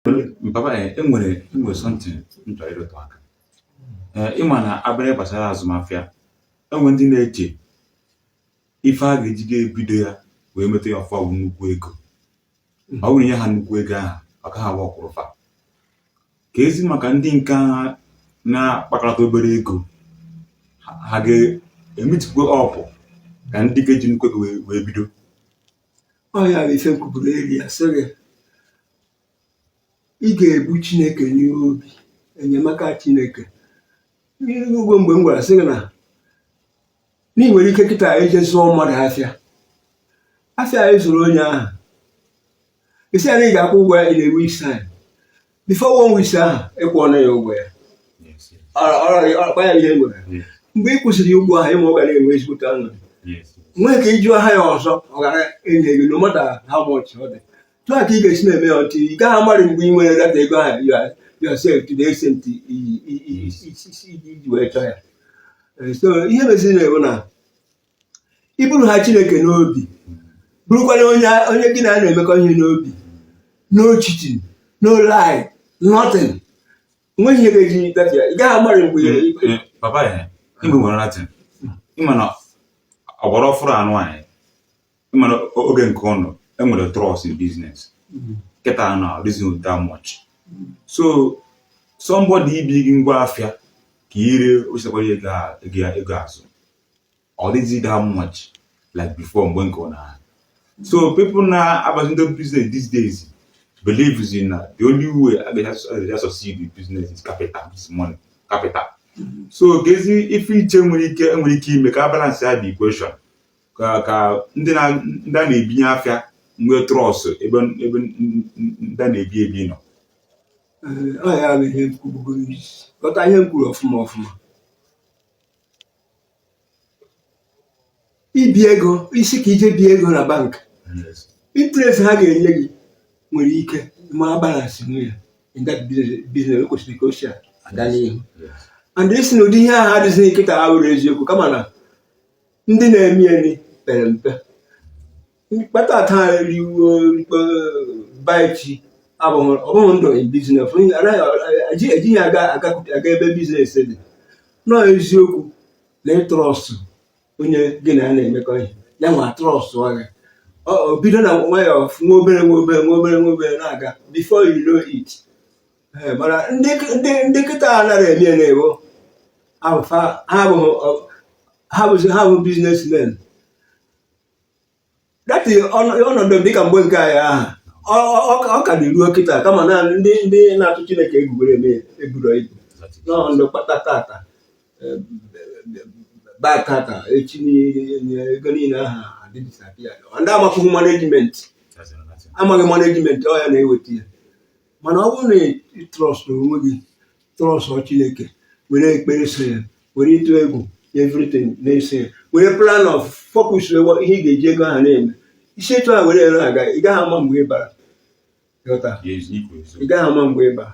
Papa enwere enwere something m chọrọ ịrụtụ aka ee ịma na abịa gbasara azụmahịa enwe ndị na-eche ife a ga-eji ga-ebido ya wee meta ya ọfụma bụ nnukwu ego ọ bụrụ nye ha nnukwu ego ahụ ọ gaghị aworkụrụ fa kezi maka ndị nke ahụ na-akpakọta obere ego ha- ha ga-emeetikwa up ka ndị ga-eji nnukwu ego wee- wee bido ọ ya bụ ife m kwuburu earlier sị gị ị ga-ebu chineke n'ime obi enyemaka chineke ugbo mgbe m gwara sị gị na na ị nwere ike kịta eje zụọ mmadụ afịa afịa ahụ ị zụrụ onye ahụ ị sị ya na ị ga-akwụ ụgwọ ya in a week's time before one week ahụ ị kwụọla ya ụgwọ ya ọkpa ya ihe nwere mgbe ị kwụsịrị ụgwọ ahụ ịma ọ ga na-enwe ezigbote ọnọdụ nwee ka ịjụ aha ya ọzọ ọ ga na-enye gị no matter how much ọ dị otu a ka ị ga-esi na-eme ya otu a ị gaghị amarị mgbe ị wee gather ego ahụ yourself to the extent iji wee chọọ ya so ihe meziri now wụ na iburu ha Chineke n'obi burukwara onye onye gị na ya na-emekọ ihe n'obi no cheating no lie nothing nweghị ihe ga-eji ị gaghị amarị mgbe mm, papa ya igwe nwere natin ịma na ọgbara ọfụrụ anụ anyị ịma na oge nke ụnụ enwere trust in business mm-hmm. kịta adịrọzi that much so somebody ibi gị ngwa afịa ka i ree wechikwa ego azụ ọ dịghịzi that much like before mgbe nke ụnụ so people na-abazi into business these days believezi na the only way a ga-eji succeed in business is capital is money capital so kezi ife iche nwere ike nwere ike ime ka a balance ya the equation ka ka ndị na ndị a na-ebinye afịa nwee trust ebe ebe ndị a na-ebi ebi nọ ọ ya bụ ihe m kwubugo ị sị ghọta ihe m kwuru ọfụma ọfụma ibi ego ị sị ka ị jee bie ego na bank interest ha ga-enye gị nwere ike ma balance nwu ya in that business o kwesịrị ka o si aga n'ihu and ịsị na ụdị ihe ahụ adịghị kịta abụrọ eziokwu kama na ndị na-eme ya pere mpe kpata taa rie ụbọchị abụghị ndụ biznes ejighị ya aga ebe biznes dị nọ eziokwu na ịtrọstụ onye gị na ya na-emekọ ihe ya nwa trọstụọ gị ọ bido na nwayọọ nwa obere nwa obere nwa obere nwa obere na-aga before you know it eh, mana ndị kịta anarọ eme nwayọọ ha bụzi ha bụ biznesmen that is ọnọdụ dịka mgbe nke anyị aha ọ ka dị ruo kịta kama na ndị na-atụ Chineke egwu were eme eburo ibu nọọ ndị kpata tata baa tata echi ego niile aha adisappear ndị amakwụghị management amaghị management ọ ya na-eweta ya mana ọ bụrụ na ị trust onwe gị trust Chineke were ekpere so ya were ịtụ egwu everything na-eso ya were plan of focus ihe ị ga-eji ego ahụ na-eme i si etu a were ere aga ị gaghị ama mgbe ị bara ị gaghị ama mgbe ị bara